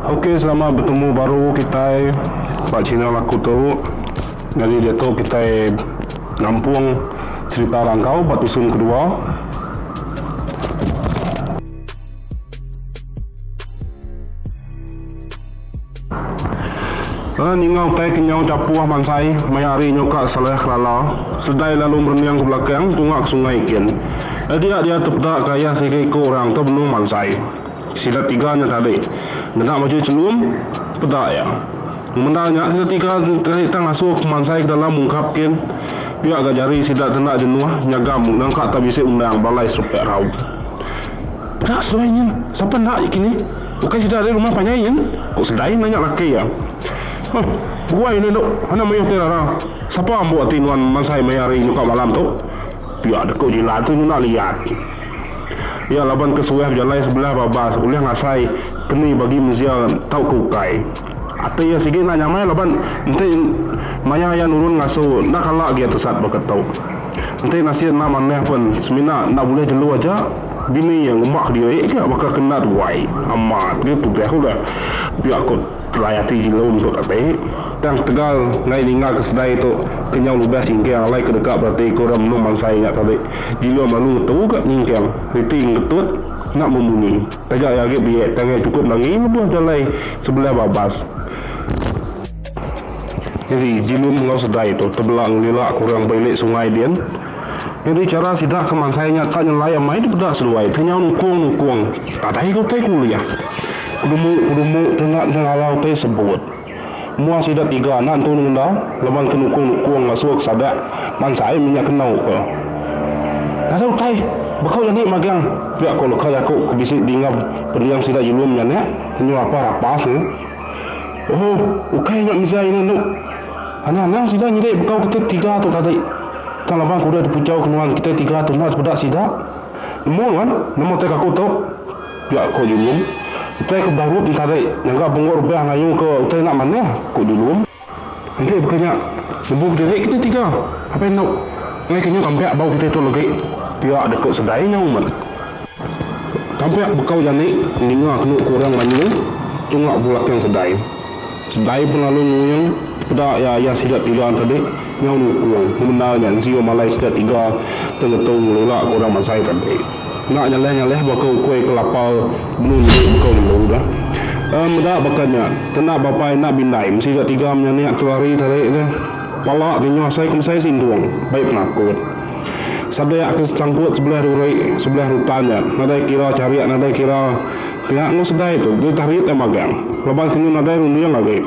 Okey selamat betemu baru kitai ba channel aku tu. Nyadi diatu kitai ngampung cherita rangkau ba tusun kedua. Rana ninga utai ke nyau japuh mansai maya hari nyu ka Saleh Kelala seledai lalu merening ke belakang tunga ke sungai gin. Adia dia tepeda ke ayah tiga iku orang tu benung mansai. Sida tiga nya tadi ngena baju chelum peda iya. Ngemendar nya sida tiga tadi tang ngasuh ke mansai ke dalam ungkap gin pia ga jari sida te enda jenuh nyagam ngangka ta bisi undang balai serepek rau. Peda seduai nyin sapa enda kini. Ukai sida ari rumah panjai nyin? ku Sedain nanya laki iya. Huh, buai enda enda anak mayuh ti rara. Sapa ambo ti nuan mansai maya hari nyukak malam tu? Pia deka Jila tu nyunak liat. Iya laban ke suah bejalai sebelah babas ulih ngasai keni bagi mensia tauka ukai. Ati iya sigi enda nyamai laban enti maya iya nurun ngasu enda kala agi iya tesat baka tu. Enti nasin enda manah pen semina enda bulih jelu aja bini iya ngemba kediri ka baka ke enda tuai amat nya tudah ku udah pia ku telai ati jelu meh ku kati tang tegal ngai ninga ke sedai tu kenyau ludah singkang alai ke deka berati ku orang menung mansai nya tadi jelu melalu ngetu ka nyingkang reti ngetut enda membunyi taja iya agi biak tang iya chukup nangi lebuh jalai sebelah babas. Nyadi, Jilun enggau Sedai tu tebela ngelila ke orang ba ili sungai din. Nyadi chara sida ke mansai nya ka nyelai amai dipeda seduai ti nyau nukung-nukung tadai ke utai kuliah. Kedumu-kedumu tu enda nengala utai sebut. Mua sida tiga enda entu nengenda laban ke nukung-nukung ngasuh ke sada mansai mih nya kenu ke nadai utai. Baka udah ni magang pia ko leka jaku ke bisi dinga pending sida Jilun nya nek, Nyau Apah Rapah ne. Ohh ukai nya mejai nya enda. Anang anang sida nyadi bekau kita tiga tu tadi. Tang laban aku udah dipejau ke nuan kita tiga tu enda tepeda sida. Nemu nuan nama utai ke aku tu? pia ko Julung. Utai ke barup nya tadi ngaga bengok rebah ngayu ke utai enda manah ko Julung. Enti baka nya, lebuh diri kita tiga apai enda enggai ke nyau tampak bau kita tu legi pia deka sedai nyau meh. Tampak bekau jani ninga kenu ku orang banyu tunga bulakang sedai. Sedai pun lalu nguing peda iya ayah sida tiga tadi nyau nukung pemendar nya enzio malai sida tiga tengetu ngelula ke orang mansai tadi. Enda ngalih-ngalih baka ukui kelapa benung nyedi baka ulu ka. Em meda baka nya, kena bapa enda bindai mesti ga tiga menyanik tu hari tarik ka. Pala ti nyuah sai kemesai sintung, bai penakut. Sadik ke sesangkut sebelih duri, sebelih rutan nya, nadai kira charik nadai kira pia enggau sedai tu deh tarit iya magang laban kenu nadai runding agi.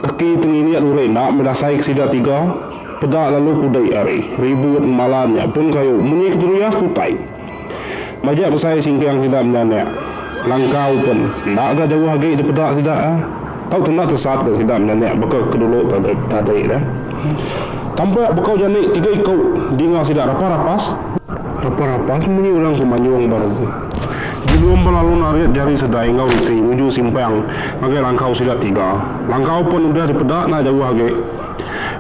Kaki tenginik duri enda meda sai ke sida tiga. Peda lalu kudai ari. Ribut ngemala nya pun kayu munyi keteruyah ke utai. Majak besai singkang sida meda nya. Langkau pun enda ga jauh agi dipeda sida ah. Tau tenda tesat ga sida meda nya baka ke dulu tadi dah. Tampak bekau jani tiga iku dinga sida rapas-rapas. Rapas-rapas munyi orang ke manyung baru. Jebum ba lalu narit jari sedai enggau reti nuju simpang ngagai langkau sida tiga. Langkau pun udah dipeda enda jauh agi.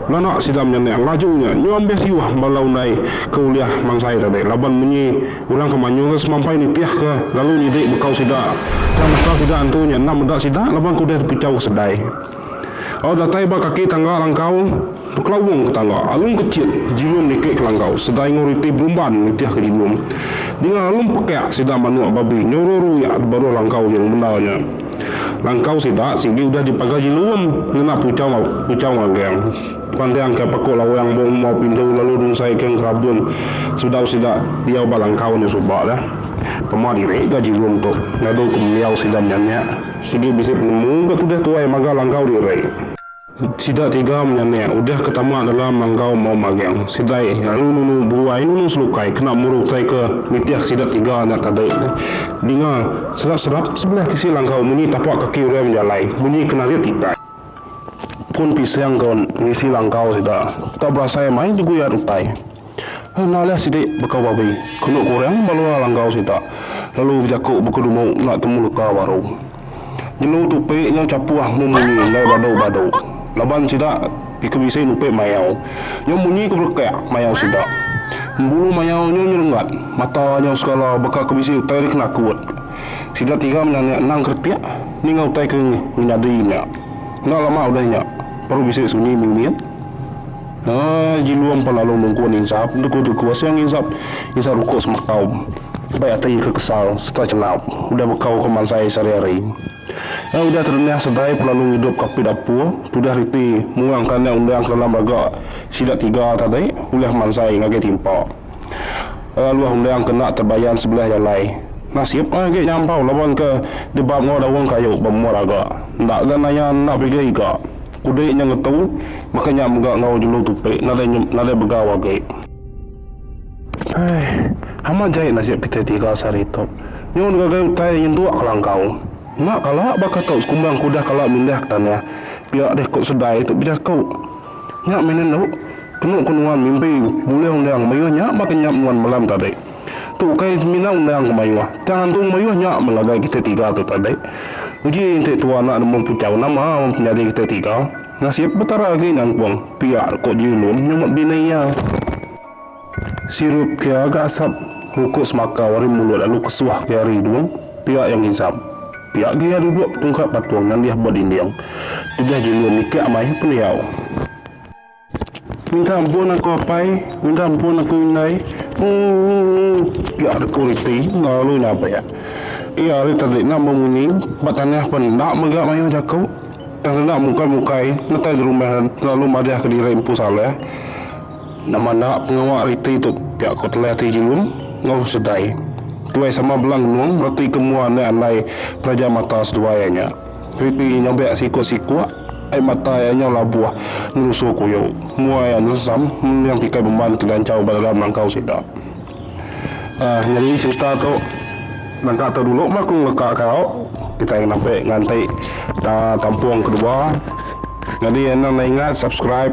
Nganak sida menyanak laju nya nyuah ambis siwah bala undai ke ulih mansai tadi laban munyi orang ke mayuh ke semampai nitih ke lalu nyidi bekau sida tang baka sida antu nya enda meda sida laban ke udah dipichau ke sedai au datai ba kaki tangga langkau bekelawong ke tangga alum ke chit jilum niki ke langkau sedai enggau riti berumban nitih ke jilum dinga alum pekak sida manuk babi nyau ruru yak di baruh langkau nya bendar nya. Langkau sida sigi udah dipaga Jilum ngena puchau puchau ngagang. Pantai angkai paku lawang ba umba pintu lalu dungsai ke ngerabun sudau sida diau ba langkau nya suba dah. Pema diri ga Jilum tu ngadu ke mendiau sida menyanak sigi bisi penemu ga tudah tuai maga langkau diri. Sida tiga menyanik udah ke tama dalam enggau Mau Magang. Sidai lalu nunu buai nunu selukai kena muru utai ke nitih sida tiga nya tadi. Dinga serap-serap sebelah tisi langkau munyi tapak kaki orang bejalai, munyi ke narit tikai. Pun pisang ke ngisi langkau sida. Tau berasai mai deguyat utai. Ngalih sidi baka babi, kenu ku orang balua langgau sida, lalu bejaku baka dumu enda temu leka baru. Jelu tupi nyau chapuh memunyi enggai badu-badu, laban sida ika bisi nupi mayau. Nyau munyi ke belekak mayau sida. Embulu mayau nyau nyerengat, mata nyau segala baka ke bisi utai di kena kut. Sida tiga menyanik endang keretik ninga utai ke nyadi nya. Enda lama udah nya, baru bisi sunyi mimit. Ai Jilum pan lalu nungku enda insap, enda ku tuku asai angai insap, insap ruko semakau. Bai ati ke kesal serta chelap udah bekau ke mansai sehari-hari. Ai udah terenyah segai pan lalu ngidup ke apit apur, tudah reti muang ke anak undang ke dalam raga sida tiga tadi ulih mansai ngagai timpa. Laluh endang kena tebayan sebelah jalai. Nasib meh agi nyampau laban ke dibab enggau daun kayu ba menua Raga. Enda ga naya enda pigi iga. Kudi nya ngetu baka nya mega enggau jelu tupi nadai nyem nadai begau agi. Hai, amat jai nasib kitai tiga sehari tu. Nyun ngagai utai nyentuk kelangkau. Enda kala baka tu sekumbang ke udah kala mindah ke tanah. Pia deh ku Sedai tu bejaku. Nya mih nenu, kenu ku nuan mimpi bulih undang mayuh nya baka nyap nuan malam tadi. Tu ukai semina undang ke mayuh, tang antung mayuh nya melagai kitai tiga tu tadi. Uji enti tua anak nemu puchau nama penyadi kitai tiga, nasib Petara agi nyangkung, pia ku Jilun nyumat bini iya. Sirup kia ga asap. Ngukuk semaka wari mulut lalu kesuah ke ari hidung, pia iya ngizap. Pia agi iya duduk betungkap patung nyandih ba dinding. Tudah Jelu mikak amai pendiau. Minta ampun aku apai, minta ampun aku indai. Uu-uu-uu, pia deku Riti lalu iya nabek. Iya ari tadi enda bemunyi ba tanah pan enda mega mayuh jaku. Tang sida mukai-mukai netai gerumah lalu madahka diri empu Saleh. Nama enda pengawa ari ti tu pia ko Telah ti Julun enggau Sedai. Tuai sama bela ngenung reti ke mua enda andai peraja mata seduai iya nya. Ripi iya nyobek sikuk-sikuk ai mata iya nyau labuh ngelusu kuyu mua iya nensam menyang tikai bemban ke dianchau ba dalam langkau sida. Aah nyadi serita tu nangka tu dulu meh aku ngeleka kau kitai ngenampi nganti tampung kedua. Nyadi anang enda ingat subscribe.